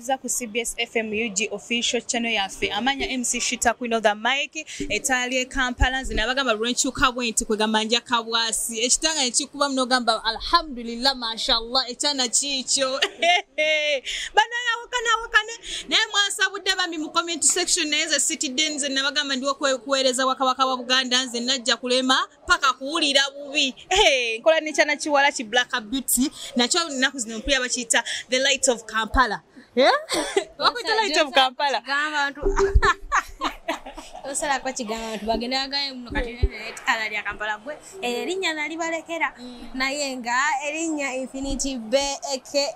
tukuweereza ku cbs fm ug official channel yaffe amanya mc shita queen of the mike etaali ekampala nze nabagamba lwenkyuka bwe nti kwegamba nja kabwasi ekitanga nekikuba munogamba alhamdulillah mashallah ekyana kiikyo banayawakana awakane naye mwasabudde bambi mu comment section naye nze sitidde nze nabagamba ndiwo kuweereza wakabaka wa buganda nze najja kulema paka kuwulira bubi hey, nkola nekyana kiwala ki black beauty nakyo naku zino mpulira bakiyita the light of kampala eh? wakuyita light of kampala osala kwa kigamba bantu bagende agaye muno kati mm. ala lya kampala gwe erinya nalibalekera mm. naye nga erinya infinity beke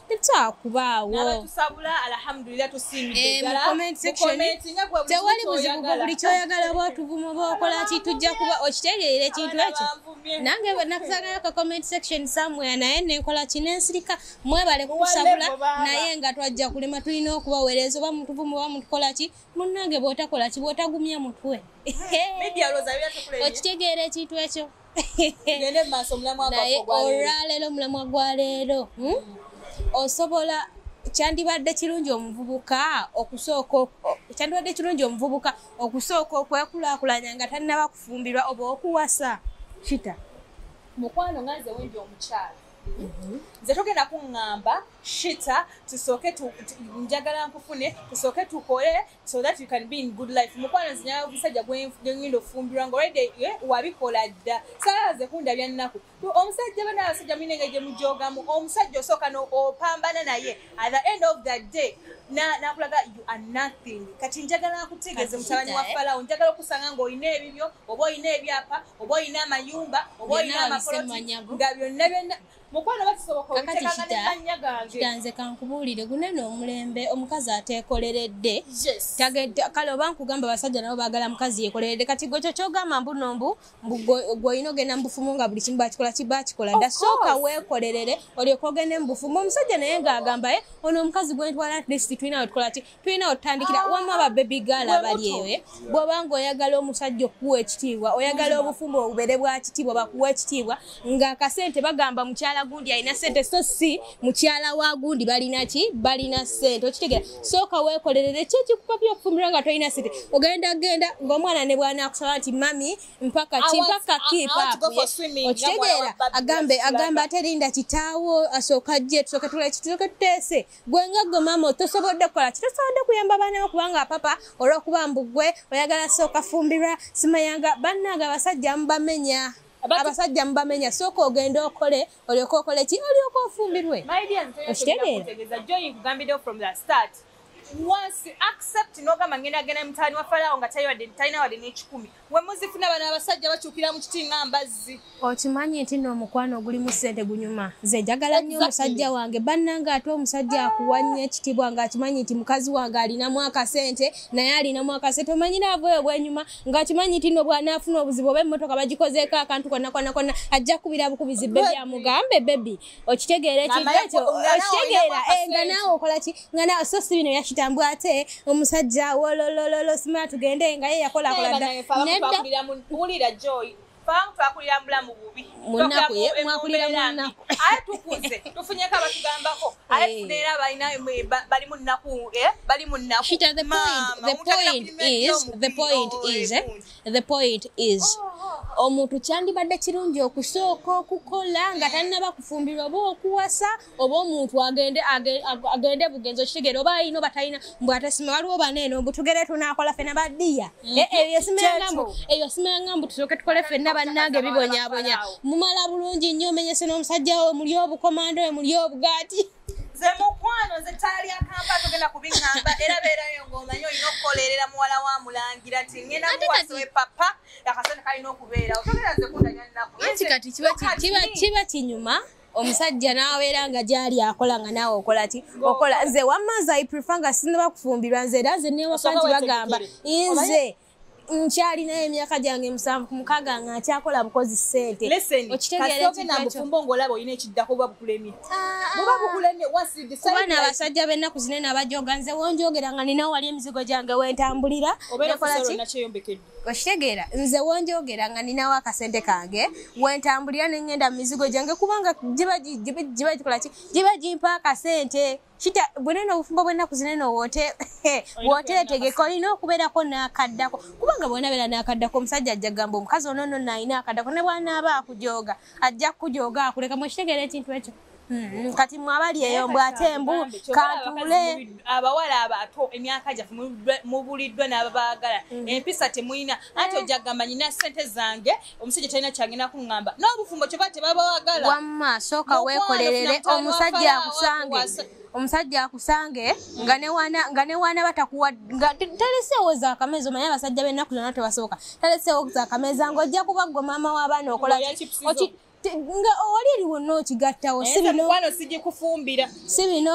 tetwakubaawo tewali buzibu bwe buli kyoyagala bwotuvuma bwokola ki tujja kuba okitegeera ekintu ekyo nange nakuzagala ka comment section somewhere naye nenkola ki nensirika mwebale kukusabula naye nga twajja kulema tulina okubawereeza oba mutuvuma oba mutukola ki munnange bwotakola ki bwotagumya mutwe okitegeera ekintu ekyo naye olwaleero omulamwa gwa leero hmm? mm. osobola kyandibadde kirungi omuvubuka okusooka kyandibadde kirungi omuvubuka okusooka okwekulakulanya nga tannaba kufumbirwa oba okuwasa kita mukwano nga nze wendi omukyalo mhm. nze togenda kuŋŋamba shita tusooke njagala nkufune tusooke tukole so that you can be in good life mukwano zinya omusajja gwengenda ofumbirwa nga olide eh, wabikola dda salaze kunda byannaku omusajja bana abasajja mulina engeri gye mujogamu omusajja osooka opambana naye at the end of the day nakulaga you are nothing kati njagala nkutegeeze mutabani wa eh? falawo njagala okusanga ng'olina ebibyo oba olina ebyapa oba olina amayumba oba olina amakoloti nga byonna byonna mukwano bakisoboka obitekagane mannya gange kitanze kankubuulire guneno omulembe omukazi ateekoleredde kale oba nkugamba abasajja nabo baagala mukazi yekoleredde kati gwe kyo kyogamba mbuno mbu gwolina ogenda mubufumu nga buli kimu bakikola kiba kikola dda sooka weekolerere olyoka ogende mubufumu omusajja naye ng'agambaye ono omukazi gwentwala atlist tulina wetukola ti tulina otandikira ah, wamma ba baby girl abali ewe eh? bwoba nga oyagala omusajja okukuwa ekitiibwa oyagala obufumbo obubere bwa kitiibwa bakuwa ekitiibwa nga akasente bagamba mukyala gundi alina sente so si mukyala wa gundi balina ki balina sente okitegera sooka weekolerere ki ekikupapya okufumbirwa nga tolina sente ogenda genda ngaomwana ne bwana akusaba nti mami mpaka ki mpaka kipaokitegeera agambe agamba aterinda kitaawo asooka jje tusooke tulaki tusooke tuteese gwe nga gwe maama tosobodde kukola ki tosobodde kuyamba baana bo kubanga papa olwokuba mbu gwe oyagala sooka fumbirwa simayanga bannaaga abasajja mubamenya abasajja mubamenya sooka ogende okole olyoka okole ki olyoka ofumbirwe okitegeera once accept nogamba ngenda genda mutani wa falawo nga talina wadde nekikumi wemuzifuna bano abasajja bakyukira mu kiti nga mbazzi okimanyi nti no omukwano ogulimu ssente gunyuma nze njagala nnyo omusajja wange bannanga ate omusajja akuwa nnyo ekitibwa ng'akimanyi nti mukazi wange alinamu akasente naye alinamu akasente omanyi naava eyo bwenyuma ng'akimanyi nti no bwanaafuna obuzibu oba emmotoka bagikozeeko akantu konna konna konna ajja kubira bukubizi bebi amugambe bebi okitegeera ekikyo okitegeera eh, nga naawe okola ki nga naawe so si bino yakitambwa ate omusajja wololololo sima tugende nga ye yakolakola dda neddawulira joy abamu twakulira mubulamu bubi mwakulira munaku aye tukuze tufunyeko abatugambako aye eh. tuneera balina bali munaku eh, bali munaku The point is omuntu kyandibadde kirungi okusooka okukola nga tannaba kufumbirwa oba okuwasa oba omuntu agende agende bugenzi okitegeera oba ayina oba talina mbu atesima waliwo bana eno mbu tugere tunakola fena badiya mhm. eh, eyo simayangambu eyo simayangambu tusooke tukole fenna bannange bibonyabonya mumala bulungi nnyo omenyese n'omusajja we muli obukomando we muli obugaati nze mukwano nze ttaala lya kampa togenda kubiŋamba era beerayo ng'omanyi olina okukolerera muwala wa mulangira ti ngenda muwasiwe papa akasente kalina okubeerawo togera nze kundanya nnaku anti kati kiba kinyuma omusajja n'abeera nga gyali akola nga naawe okola ti okola nze wamma nze i prefer nga sinaba kufumbirwa nze era nze newaka nti bagamba nze nkyalinayo emyaka gyange musanvu ku mukaga nga nkyakola bukozi sente okitegeeranabufumbo ngaolaba olina ekiddako oba bukulemye oba bukulemye kuba naabasajja bennaku zine nabajoga nze wonjogera nga ninawo wali emizigo gyange wentambulira okitegeera nze wonjogera nga ninawo akasente kange wentambulira nengenda mu mizigo gyange kubanga giba gikolaki giba gimpa akasente kita bwenene obufumbo bwennaku zinene wote wote etegeka olina okubeerako n'akaddako kubanga bwena beera n'akaddako omusajja ajja gamba omukazi ono no naalina akaddako ne bwanaaba akujooga ajja kukujooga akuleka mu kitegeera ekintu ekyo Mm-hmm. kati mwabali eyo mbw ate mbu katuule abawala abato emyaka gyaffe mubuliddwa n'ababaagala mm-hmm. empisa temulina anti ojagamba nyina sente zange omusajja talina kyangenda kuŋŋamba n'obufumbo kyoba tebabawagala wamma sooka weekolerere omusajja akusange omusajja akusange nga newaana batakuwataleseewo zakameza omanye abasajja b'ennaku zonna tebasoboka taleseewo zakameza ng'ojja kuba gwe maama w'abaana okola nga oli eriwo nookigattawo eh, si bino sigikufumbira si bino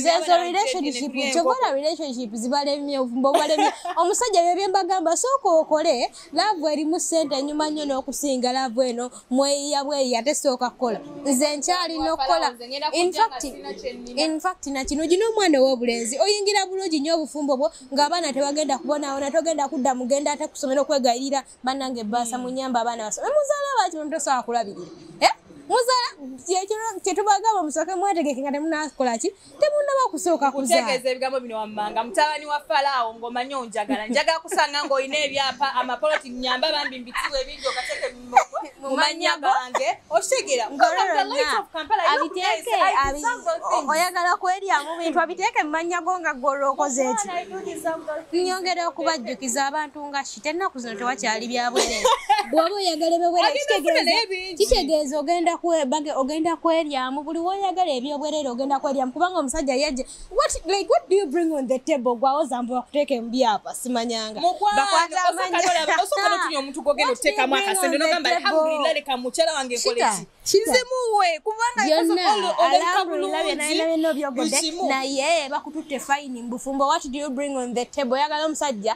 zezo relationship kyobola relationship zibalemye obufumbo obubalemye omusajja byebye mbagamba sooka okole laavu erimu ssente enyuma nnyo n'okusinga laavu eno mweyiya bweyi ate sooka kukola nze nkyalina okukola infact nakino gina omwana ow'obulenzi oyingira bulungi nnyo obufumbo bwo ng'abaana tebagenda kubonawona togenda kudda mugenda ate kusomera okwegayirira banange basa munyamba abaana basa muzala baki muntu sawa kulabirira eh muzala kyekiro kyetubagaba musoke mwategeke nga temunakola ki temunaba kusooka kutegeeza ebigambo bino wammanga mutabani wa falaawo ng'omanyi onjagala njagala kusanga ng'olina ebyapa amapoloti nyamba bambi mbitiwe ebingi okateke mu mannya gange okitegeera abiteeke oyagala kweryamu bintu abiteeke mu mannya go nga gwolwokoze eki nyongera okubajjukiza abantu nga tennaku zino tewakyali byabwere bwoba oyagala ebewere kitegeeza ogenda kweryamu buli woyagala ebyobwerere ogenda kweryamu kubanga omusajja yaje gwawoza mbu bakuteeka emubyapa simanyanga naye bakututte fayini mbufumbo wat do you bring on the table oyagala omusajja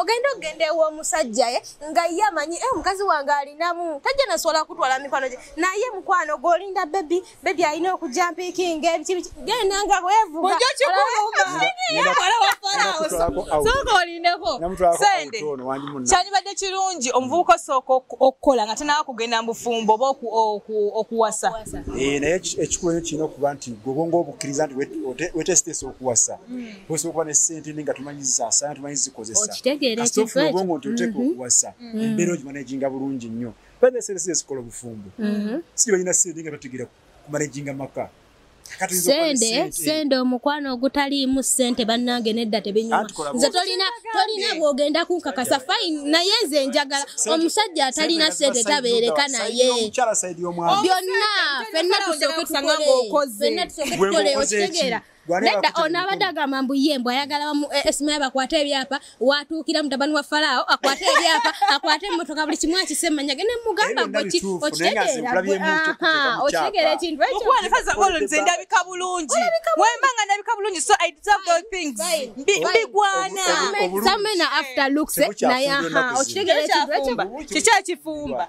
ogenda okugenda ew'omusajja ye nga ye amanyi e omukazi wange alinamu tajja nasobola kutwala mikono gye naye mukwano gwolinda bebi bebi alina okujja mpikinga ebikibiki genda nga bwevugaaolindeko sente kyandibadde kirungi omuvubuka osooka okukola nga tanawa kugenda mu bufumbo oba okuwasa eh, naye ekikulu kirina okuba nti gobonga obukkiriza nti wetesitesa okuwasa hmm. osobola kuba ne ssente ne nga tumanyi zisaasaana tumanyi zikozesakasitofuna obwongo nti oteeka mhm. okuwasa mhm. embeera ogimanaginga bulungi nnyo baa sente sente zikola obufumbo mhm. siri balina sente nga bategeera kumanaginga maka sente sente omukwano ogutaliimu sente bannange nedda tebinyuma nze tolina tolina bwogenda kunkakasa fine naye nze njagala omusajja atalina sente tabeereka naye byonna fenna tusoke tukoleokitegeera Nedda ono abadde agamba mbu ye mbu ayagala esima eh, eh, bakwate ebyapa watuukira mutabani wa falaawo akwate ebyapa akwate emmotoka buli kimu akise manya ge nemugamba okitegeera ekintu ekyonze ndabika bulungi wemba nga ndabika bulungi so i deserve those things mbigwana samena after looks eh, naye okitegeera ekintu ekyo kikyakifumba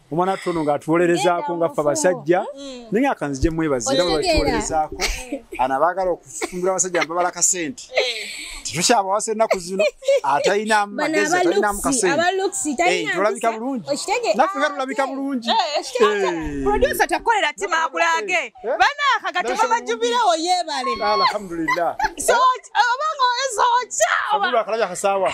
omwana watu ono ng'atuwolerezaako nga ffe abasajja mm. naye akanzije mwebazi era bwebatuwolerezaako ana baagala okufumbira abasajja mbabala kasente tetukyabawasa ennaku zino atalina magezi atalinamu kasentolabika eh, bulungi naffe nga tulabika bulungi produsa takolera tima akulage banaaka kati babajubirewo yebale alhamdulillah obanga oeza okyawa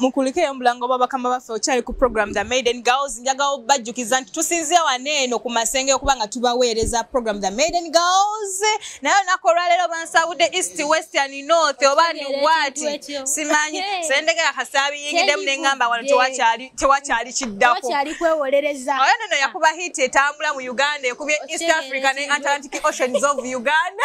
mukulikeyo mulango bwa bakama baffe okyali ku program the maiden girls njagawo bajjukiza nti tusinzia wano eno ku masenge okuba nga tubaweereza program the maiden girls naye olunaku olwaleero bansawudde east west and north oba ni wati simanyi sendegera kasaabiyingidemu ne ngamba wano tewakyali kiddakooyo nono yakuba hit etambula mu uganda ekubye east africa ne atlantic oceans of uganda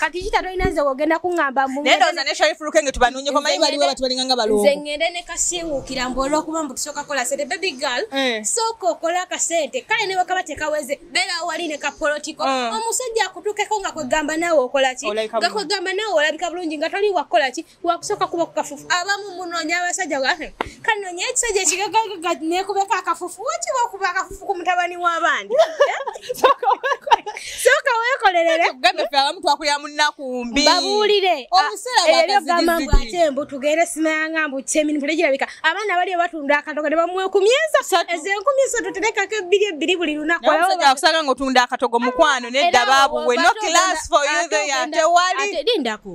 kati kita tolina nze wogenda kuŋamba mnendoza ne sharifu luke nge tubanonyeko mayi baliwo batubalinga nga balongo nze ngende ne kasiwukira mbu olwokuba mbu tusooka kola sente baby girl eh. sooka okola akasente kale ne bwekaba tekaweze beera wali ne kapolotiko eh. omusajja akutukeko nga kwegamba naawe okola ki nga kwegamba naawe olabika bulungi nga toli wakukola ki wakusooka kuba ku kafufu abamu munoonya abasajja gwafe kanoonya ekisajja ekigagagaga nekubeko akafufu wakiba okuba akafufu ku mutabani w'abandi sooka weekolerere gambefe abamu twakulira munnakumbi babuulire ebyo gamba mbu ate mbu tugende simayanga mbu kyemini tulegirabika abaana bali batunda akatogo ne bamuwe ku myeza ezo enkumi eso tuterekako ebbiri ebbiri buli lunaku omusajja akusanga ng'otunda akatogo mukwano nedda baabuwe no class for you there tewali lindako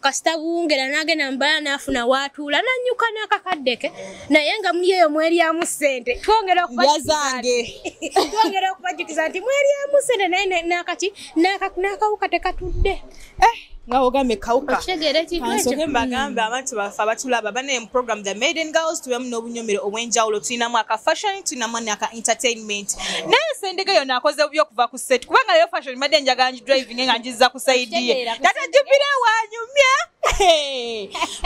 kasita buwungera n'agenda mubala n'afuna waatuula n'annyuka n'akakadde ke naye nga muli eyo mwelyamu ssente twongera okubazange twongera okubajjukiza nti mwelyamu ssente naye nakati n'akawuka tekatudde eh, nga ogambye kawuka kansoke mbagambe abantu baffe abatulaba banaye mu program the maiden girls tubemu n'obunyomero obw'enjawulo tulinamu aka fashion tulinamu naka entertainment naye sendege yona akoze bubi okuva ku set kubanga leero fashion mbadde njagala nji driving nga njiza ku side ye tata jupire wanyumya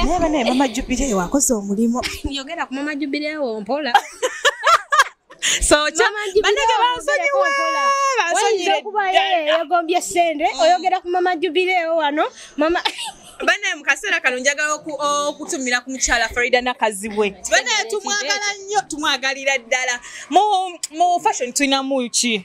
naye banaye mama jupire wakoze omulimu yogera ku mama jupire wo mpola so banege bansonyiwe bansonyire yagombye sente mm. oyogera ku mama jupire wo wano mama banaye mukaseera kano njagala okutumira ku mukyala farida nakazibwe banaye tumwagala nnyo tumwagalira ddala mu fashion tulinamu ki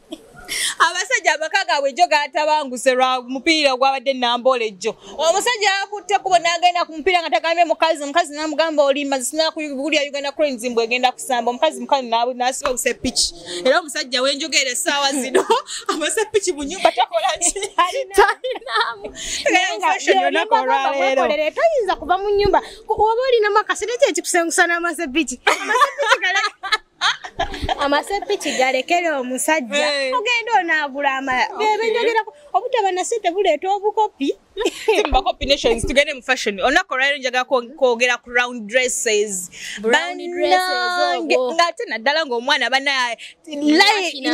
abasajja amaka gaabwe jo gatabanguse lwa mupiira gwabadde nambola ejjo omusajja yakutte kubo nagenda ku mupiira nga tagambye mukazi omukazi namugamba olimba zisina kuwulira uganda cranes mbu egenda kusamba omukazi mukazi nasiba obuse piki era omusajja wenjogera essaawa zino abase piki mu nyumba takola kialinamuolwaleero toyinza kuva mu nyumba oba olinamu akasente kyekikusengusana amase piki amase piki galeka amasepiki galekere omusajja ogenda onaagula amala bebenjogerako obutaba na sente buleeta obukopi bakopi nations tugende mu fashion olunaku olwaliro njagala kwogera ku round dresses banange ngaate naddala ngaomwana banaye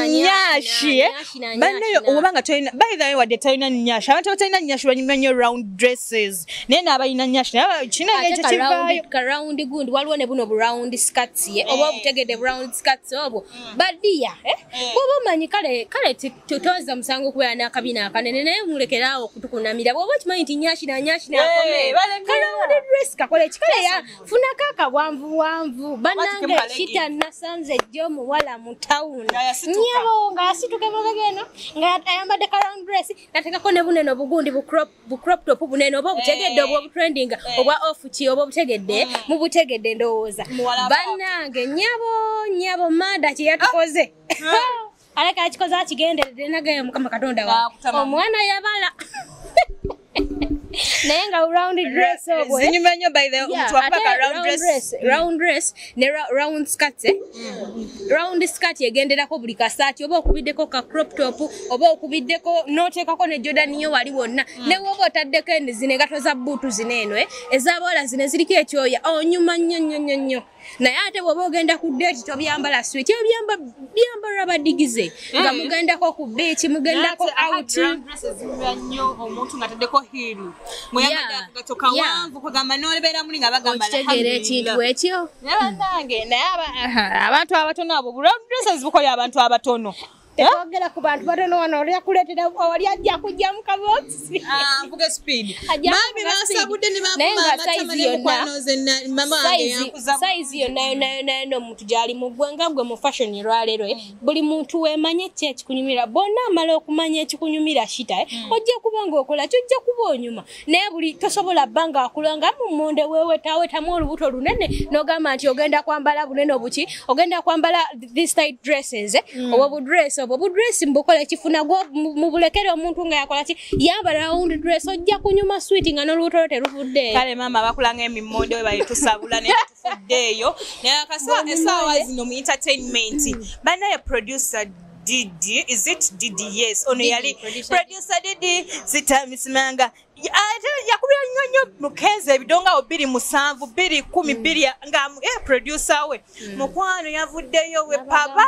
nyashi eh? banaye oba nga tolina by the way wadde talina nyashi abantu batalina nyashi banyumanyo round dresses naye n'abalina nyash naye kinange ekyo kivaayo ka round gundi waliwo ne buno bu round skirts ye oba eh. obutegedde bu round skirts obwo mm. badiya eh? eh. bwoba omanyi kale kale totoza musango okubeera n'akabina akanene naye mulekeraawo okutukunamira bwoba okimanyi nti nyashi na nyashi nakomekalawundi dress kakole kikale ya funako akabwanvu bwanvu banange kita nasanze jjo omuwala mu town nyabo nga yasituka emabega eno nga ayambadde ka round dress natekako ne buneno bugundi bu crop bu crop top bunene oba obutegedde obwa eh. obutrending eh. obwa off ki oba obutegedde mm. mubutegedde ndowooza bannange nyabo nyabo maada kyeyatukoze ah. aleka akikoze akigenderedde nagaye mukama katonda wa omwana yabala naye nga round dress obwe zinyuma nyo by the omuntu akuba ka round dress round dress mm. ne round skirt eh? mm. round skirt egenderako buli kasaati oba okubiddeko ka crop top oba okubiddeko n'oteekako ne jordan yo wali wonna mm. ne woba otaddeko eni zino engato za bbuutu zino eno eh? ezabawala zino eziriko ekyoya onyuma oh, nnyo nnyo nnyo nnyo naye ate bwoba ogenda ku deeti tobyambala swit ebyo byamba byambalwa badigize eh. nga mugendako ku beeki mugendako out okitegeera ekintu ekyo abantu abatono abo bulobuses bukoya abantu abatono ogera ku bantu batono wano olyakuleetera wali ajja kujja mu kaboxsayizi yonnayonayonayo n'omuntu gyali mu ggwanga gwe mu fashion lwaleero buli muntu wemanye ki ekikunyumira bonna amala okumanya ekikunyumira shita eh? mm. ojja kuba ngaokola kyojja kuba onyuma naye buli tosobola bba nga akula nga mumunde wewetawetamu olubuto lunene nogamba nti ogenda kwambala bunene obuki ogenda kwambala thistyt dresses eh? mm. obwo budress obwo budress mbukola ekifuna gwo mubulekere omuntu nga yakola ki yaba round dress ojja kunyuma switi nga nolubuto lwo teruvudde kale maama bakulanga emimonde webayitusabula eyo naye akaswa esaawa zino mu entertainment banaye producer Didi, is it Didi? Yes, ono yali producer Didi zitamisimanga ate yakubira nnyo nnyo mukenzi ebidongawo biri musanvu biri kumi hmm. biri nga eh, producer we hmm. mukwano yavuddeyo we papa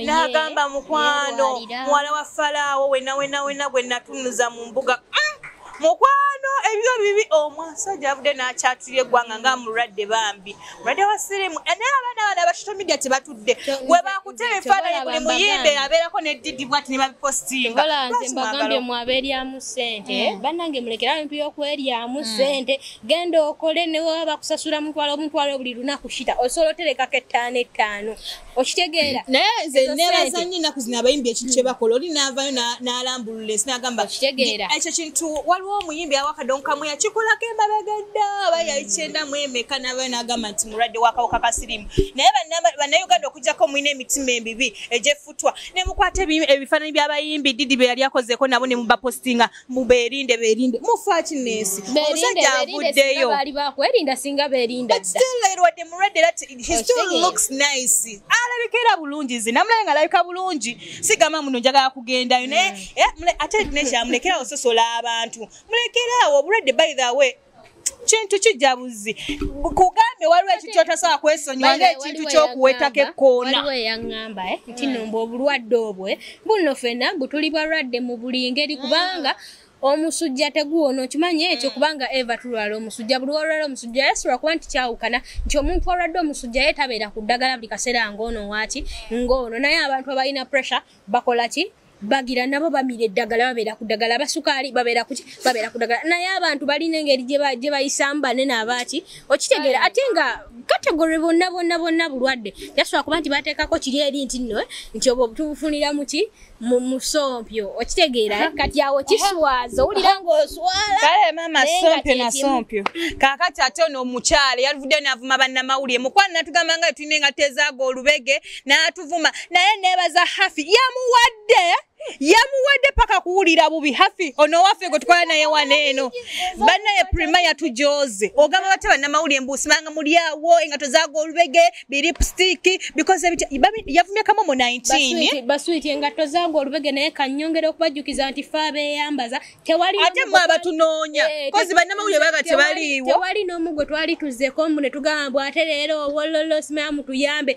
n'agamba mukwano muwala wa falaawo wenawenawena gwe natunuza mu mbuga mm. mukwano ebyo bibi omusajja avudde n'akyatulira eggwanga nga mulwadde bambi mulwadde wa sirimu eh, naye abaana bana abashito media tebatudde we bakutera ebifaananyi buli muyimbe abeerako ne didi bwati ne babipositinga olanze mbagambye mwabeeryamu ssente hmm. bannange mulekera bintu y'okweryamu hmm. ssente genda okole newaba bakusasula mutwalo omutwalo buli lunaku shita osobola oterekako ettaano ettaano okitegeera naye nze nebaza nnyo ennaku zino abayimbi ekintu kye bakola oli naavayo n'alambulula ensi n'agamba okitegeera ekyo kintu waliwo omuyimbi awakadonkamu yakikolako emabega dda aba yayikyenda mu emeka n'avayo n'agamba nti mulwadde wakawuka kasirimu naye bannayuganda okugyako mulina emitima emibi egyeffutwa ne mukwata ebifaananyi by'abayimbi didi bye yali akozeeko nabo ne mubapostinga muberinde berinde mufaaki nensi omusajja avuddeyo baali bakwerinda singa berinda wadde mulwadde era alabika era bulungi nze namulabe nga alabika bulungi sigamba muno njagala kugendayo naye mm. eh, ate nekyamulekerawo sosola abantu mulekeraawo obulwadde by the way kintu kijabuzi kugambe waliwo ekikyo tasobola kwesonyiwa ngaekintu kyokuwetako ekkoona waliwo eyaŋŋamba eh, nti hmm. nomba obulwadde obwe eh. bunno fena butuli balwadde mu buli ngeri hmm. kubanga omusujja teguwona okimanyi ekyo hmm. kubanga eva tulwala omusujja buli walwala omusujja yasobola kuba nti kyawukana nti omuntu alwadde omusujja ye tabeera ku ddagala buli kaseera ngaono waaki ngaono naye abantu abalina pressure bakola ki bagira nabo bamira eddagala babeera ku ddagala abasukaali babeera kuki babeera ku ddagala naye abantu balina engeri gye bayisamu banene abaaki okitegeera ate nga kategore bonna bonna bonna bulwadde yasobola kuba nti bateekako kiri eri nti nno eh, nti obwo tubufunira muki mu musompyo okitegeera eh? kati awo kiswaza owulira ngaoswalakale maama sompyo nasompyo kakati ate ono omukyala yalivudde navuma bannamawulire mukwana natugamba nga tulina engatezaaga olubege n'atuvuma naye neebaza hafi yamuwadde yamuwadde paka kuwulira bubi hafi ono waffe gwe tukola naye wana eno banaye prima yatujooze ogamba bate banamawuli embuusi manga mulyawo engato zaga olubege biripstiki yavumyekamu mu 19baswiti engato zaga olubege naye kanyongera okubajjukiza nti fe abeyambaza ate mwe abatunoonya eh, kozi banamawuli baga tebaliiwo tewali n'omu gwe twali tuzeko mbu ne tugamba bw ate leero owololo simayamu tuyambe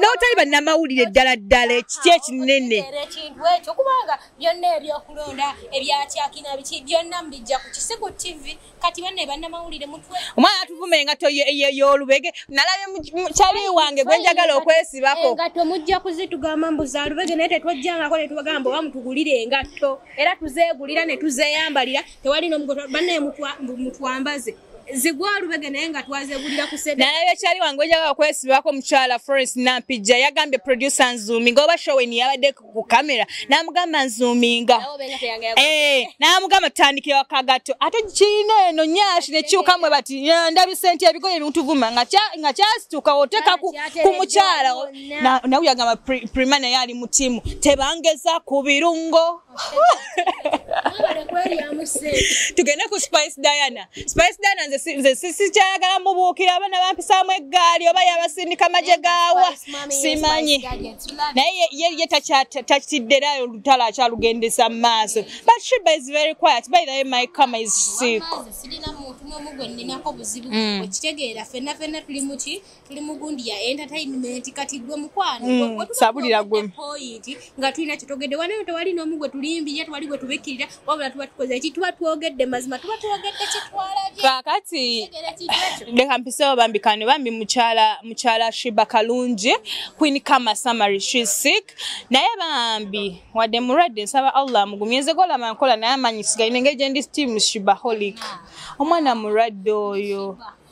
n'otali bannamawulire ddala ddala ekiti ekinene ekintu ekyo kubanga byonna ebyokulonda ebyakyakina biki byonna mbijja ku kisiku tv kati banne bannamawulire mutwe omwana atuvuma engato y'olubege nalabe kyali wange gwe njagala okwesibako engato mujja kuzitugamba mbu za lubege naye tetwajjangako ne tubagamba oba mutugulire engatto era tuzeegulira ne tuzeeyambalira tewali nomugoto banne mutwambaze zigwa lubege naye nga twazegulira ku sebe naye ekyali wange ojaga okwesibako mukyala Florence Nampija yagambye producer Nzumi ngoba show ni yabadde ku camera namugamba Nzuminga eh namugamba tandikira wakagato ate kine eno nyashi ne kyuka mwe bati ndabi sente ebigoye bintuvuma nga kya nga kyasituka oteka ku, ku mukyala na na uyagamba primana yali mutimu tebangeza ku birungo tugende ku spice diana spice diana nze sikyayagala mubuukira abana bampisaamu eggaali oba yabasindika magye gaawa simanyi naye ye takitiddera olutalo akyalugendesa mu maaso but shiba is very quiet by the way my kama is sick tuli mugundi ya entertainment kati gwe mukwano mm, sabulira gwe point nga tulina kitogede wana yote wali no mugwe tulimbi yetu wali gwe tubikirira wabula tuba tukoze eki tuba twogedde mazima tuba twogedde kitwala je kakati de kampise obambi kane bambi muchala muchala shiba kalunje queen kama summary she sick naye bambi wade murade nsaba allah mugumyeze gola mankola naye amanyi sigaine ngeje ndi steam shiba holic omwana murade oyo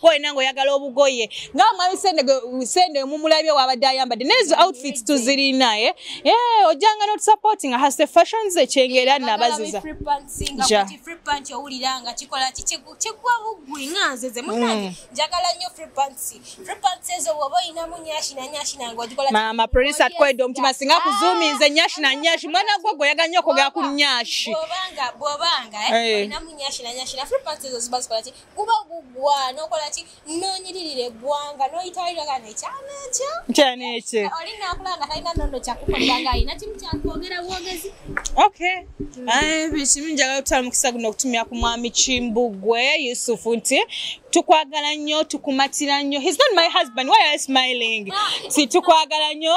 kwolina ngaoyagala obugoye nga mwami sende omumulabye wabadde ayambadde nezo outfits tuzirina e eh? eh, ojanga notusupporting hase fashions ekyengera nabaziza mama producer atkwedde omutima singa kuzuuminze nyashi na nyashi mwana gwe gwe oyagala nyo okugera ku nyashi bwobanga eh? olinamu nyashi na nyashi na free pants ezo ziba zikola ki kuba gugwa nokola ki nonyiririra eggwanga noyitawulira kano ekyana ekyo ekyana ekyo oli nakula nga talina nono kyakukolera nga alina kimu kyakwogera bwogezi ok bikimu njagala kutwala mukisa guno okutumira ku mwami kimbugwe yusufu nti tukwagala nnyo tukumatira nnyo his not my husband why are smiling si tukwagala nnyo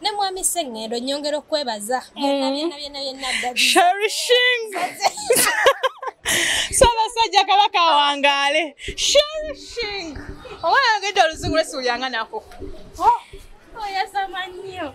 ne mwami sengendo nyongera okwebaza sherishing sabasajja kabaka awangaale sherishing oba yagedde oluzungu lwesuulyanga nako oh, oyasama nnyo